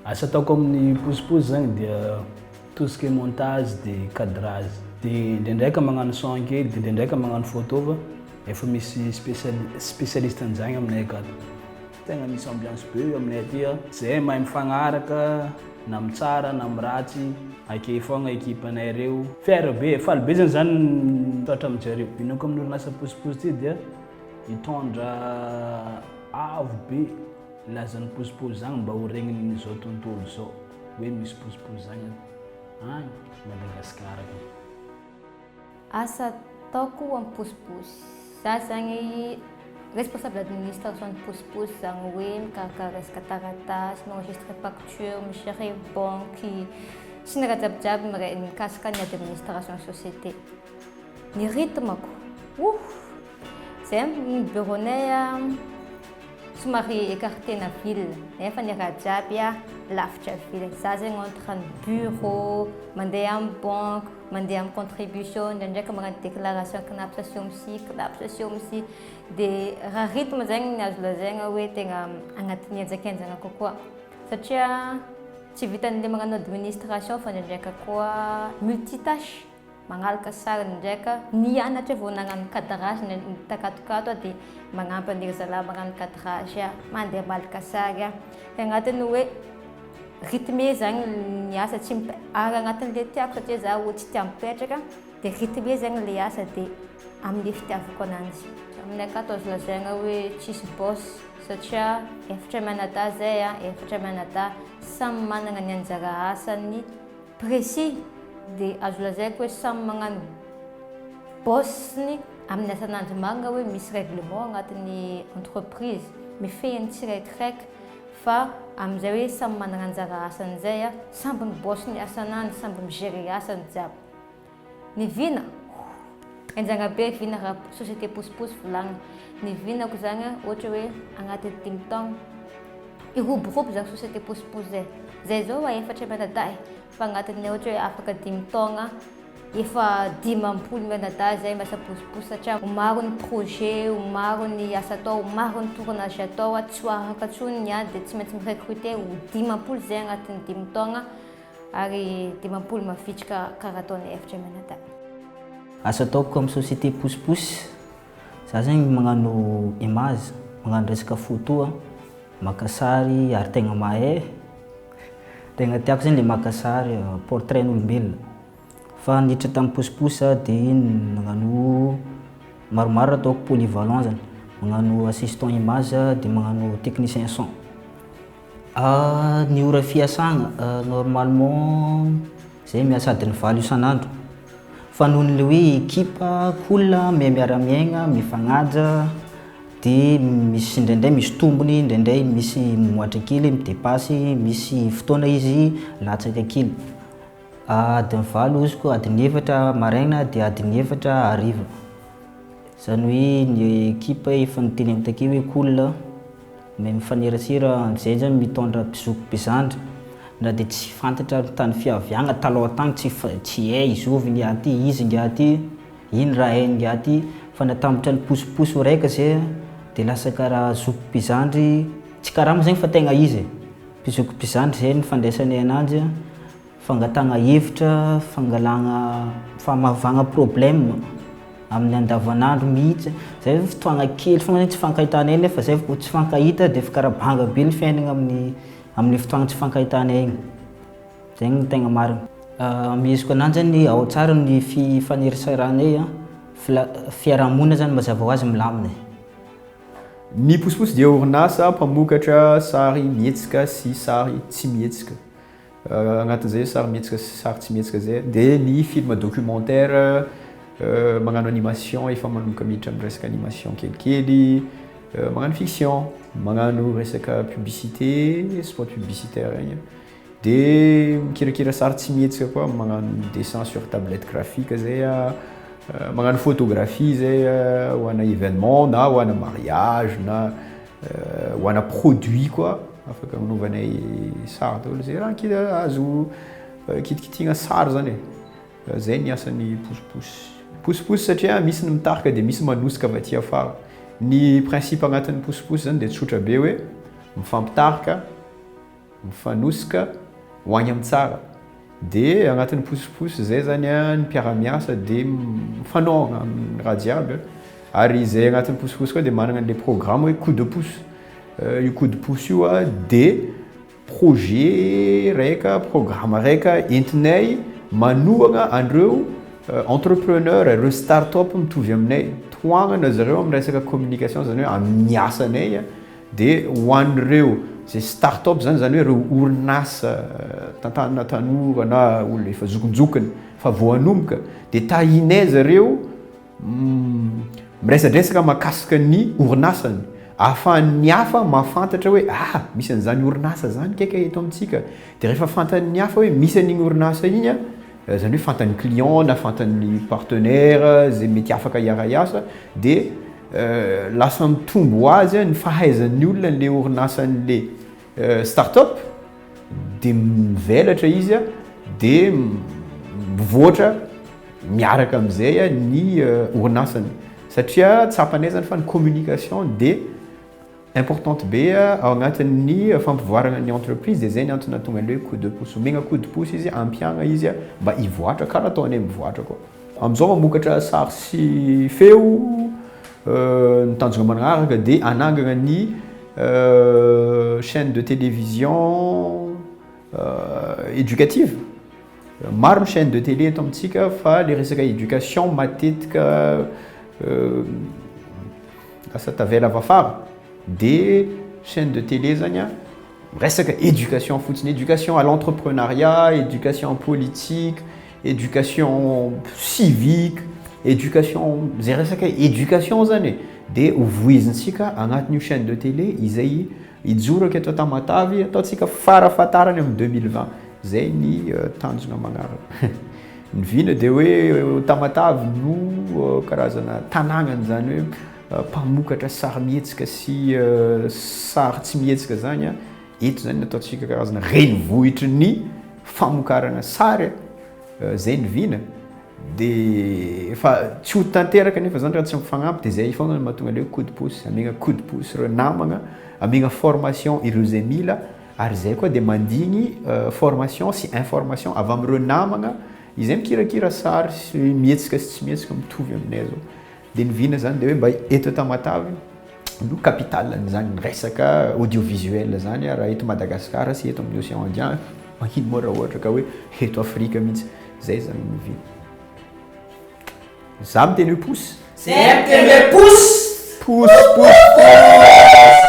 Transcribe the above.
Asa ataoko amin'ny posiposy zany dia tout ce qui est montage de cadrage. De ndraindraika magnano son kely, de ndraindraika magnano photo fa efa misy spécial- spécialiste an'zagny aminay akato. Tegna misy ambiance be aminay aty a. Zay mahay mifagnaraka na am tsara na am ratsy akey fogna equipe nay reo. Fier be, faly be zany zah mitratra am jareo. Inoako am orinasa posiposy ty dia hitondra avo be lazan posiposy zagny mba ho regnin zao tontolo zao hoe misy posiposy zagny agny Madagascar agny. Asa ataoko amin'ny posiposy. Za zany responsable administration ny posiposy zany hoe mikarakara resaka taratasy, mi-enregistre facture, mi-gerer banky sy ny raha jiabijiaby miray mikasika ny administration société. Ny rythme-ko, oh! Zay ny bureau-nay somary écarté-na ville nefa ny raha jiaby lavitra ville. Za zegny entre ny bureau, mandeha amin'ny banque, mandeha amin'ny contribution, ndraindraika magnano déclaration CNAPS sy OMSI, CNAPS sy OMSI. Dia raha rythme zegny ny azo lazaina hoe tegna agnatin'ny henjakenjana kokoa satria tsy vitan'ilay magnano administration fa ndraindraika koa multi-tâche. Mangalaka sariny indray ka mianatra vao nagnano cadrage ny takatokato aho dia magnampy an'iry zalahy magnano cadrage aho, mandeha malaka sary aho. Dia agnatin'ny hoe rythme zany ny asa tsy mip- ary agnatin'ilay tiako satria za olo tsy tia mipetraka dia rythme zany ilay asa dia amin'ilay fitiavako ananjy. Amin'ny akato azo lazaina hoe tsisy boss satria efatra mianadahy zay an, efatra mianadahy samy manana ny anjara asany. Précis dia azo lazaiko hoe samy magnano bosny amin'ny asan'andro marina hoe misy règlement agnatin'ny entreprise mifehy ny tsiraikraik fa amin'izay hoe samy manana anjara asany zay a, samby mi bosny asan'andro samby mi gérer asany jiaby. Ny vina? Ohh! Enjagna be vina ra société posiposy volagna. Ny vinako zagny a, ohatra hoe agnaty dimy taogno, hiroborobo zagny société posiposy zay. Zay zao a efatra mianadahy, fa agnatin'ny ohatra hoe afaka dimy taogna, efa dimampolo mianadahy zay miasa posiposy satria ho maro ny projet, ho maro ny asa atao, ho maro ny tournage atao, tsy ho araka intsony ny ady de tsy maintsy mi-recruter ho dimampolo zay agnatin'ny dimy taogna. Ary dimampolo mavitrika karaha ataonay efitra mianadahy. Asa ataoko amin'ny société pousse pousse, za zegny magnano image, magnano resaka photo a, maka sary ary tegna mahay e, tegna tiako zegny le maka sary portrain'olombelona, fa niditra tamin'ny pousse pousse za de iny nagnano maromaro raha ataoko polyvalent zany, magnano assistant image de magnano technicien son. Ny ora fiasana, normalement zay miasa adiny valo isan'andro fa noho ny le hoe ekipa, olona miha miara miaigna, mifagnaja de misy indraindray misy tombony, indraindray misy mimoatra kely, midepasy, misy fotoana izy latsaka kely, adiny valo izy koa adiny efatra maraina de adiny efatra hariva, zany hoe ny ekipa efa noteneniko takeo hoe olona. Ny mifanerasera amin'izay zany mitondra mpizoko mpizandry na dia tsy fantatra ary tany fiaviagna taloha tagny tsy tsy hay zovy ingahy ty izy ingahy ty ino raha hainy ingahy ty fa natambatra ny posiposy raika zay a de lasa karaha zoko mpizandry tsy karama zegny fa tegna izy e mpizoko mpizandry zay nifandraisanay ananjy a Fangatahana hevitra, fangalana, famavahana problème amin'ny andavanandro mihitsy, zay vao fotoana kely foana hoe tsy ifankahitanay nefa zay vao tsy ifankahita dia efa karaha banga be ny fiainana amin'ny amin'le fotoana tsy ifankahitanay iny, zay no tegna marina. Ameheziko ananjy zany hoe ao tsara ny fifaneraseranay an, fla- fiarahamonina zany mazava hoazy milamina e. Ny Posiposy dia orinasa mpamokatra sary mihetsika sy sary tsy mihetsika. Agnatin'izay sarimihetsika sy sary tsy mihetsika izay dia ny film documentaire magnano animation efa manomboka miditra amin'ny resaka animation kelikely, magnano fiction, magnano resaka publicité, spot publicitaire igny, dia mikirakira sary tsy mihetsika koa magnano dessin sur tablette graphique zay aho, magnano photographie zay ho ana événement na ho ana mariage na. Ho ana produit koa afaka anaovanay sary daholo zay raha kida azo kitikitihina sary zany e. Zay ny asan'ny posiposy. Posiposy satria misy ny mitarika dia misy manosika avy aty afara. Ny principe agnatin'ny posiposy zany dia tsotra be hoe mifampitarika mifanosika ho any amin'ny tsara dia agnatin'ny posiposy zay zany a ny mpiara-miasa dia mifanao amin'ny raha jiaby a, ary zay agnatin'ny posiposy koa dia managna an'ilay programme hoe coup de pouce, io coup de pouce io a dia projet raika, programme raika entinay manohagna an'ireo entrepreneurs, ireo start-up mitovy aminay, tohagnana zareo amin'ny resaka communication zany hoe amin'ny asanay a. Dia ho an'ireo izay start-up izany, izany hoe ireo orinasa tantanana tanora na olona efa zokinjokiny fa vao hanomboka, dia tahinay zareo miresadresaka mahakasika ny orinasany, ahafahan'ny hafa mahafantatra hoe ah! misy an'izany orinasa izany kay ka eto amintsika, dia rehefa fantan'ny hafa hoe misy an'iny orinasa iny an! Izany hoe fantan'ny client na fantan'ny partenaire izay mety afaka hiara-hiasa dia lasa mitombo ho azy ny fahaizan'ny olona an'ilay orinasan'ilay start-up dia mivelatra izy dia mivoatra miaraka amin'izay ny orinasany satria tsapanay izany fa ny communication dia Importante be ao agnatin'ny fampivoarana ny entreprise de zay ny antony nahatonga an'le hoe coup de pouce. Omegna coup de pouce izy, ampiagna izy mba hivoatra karaha ataonay mivoatra koa. Amizao mamokatra sary sy feo, ny tanjona manaraka de hanangana ny chaine de télévision éducative. Maro ny chaine de télé eto amintsika fa le resaka éducation matetika lasa tavela vafara de chaine de télé zany a resaka éducation fotsiny éducation à l'entreprenariat, éducation en politique, éducation civique, éducation ze resaka éducation zany e de ho voizintsika agnatin'io chaine de télé izay Hijoro aky eto Tamatave, ataontsika farafahatarany amin'ny deux mille vingt, zay ny tanjona magnaraka. Ny vina dia hoe Tamatave no karazana tanàgnany zany hoe mpamokatra sarimihetsika sy sary tsy mihetsika zany an, eto zany ny ataontsika karazana renivohitry ny famokarana sary. Zay ny vina de efa tsy ho tanteraka nefa zany raha tsy mifagnampy de zay fogna no mahatonga an'ireo coup de pouce, amiagna coup de pouce ireo namagna, amiagna formation ireo zay mila ary zay koa de mandigny formation sy information avy amin'ireo namagna izay mikirakira sary sy mihetsika sy tsy mihetsika mitovy aminay zao. Dia ny vina zany dia hoe mba eto Tamatave no capitale an'izany resaka audio visuel zany raha eto Madagascar sy eto amin'ny Océan Indien mankino moa raha ohatra ka hoe eto Afrika mihitsy zay zany ny vina za miteny hoe pousse zay miteny hoe pousse pousse pousse pousse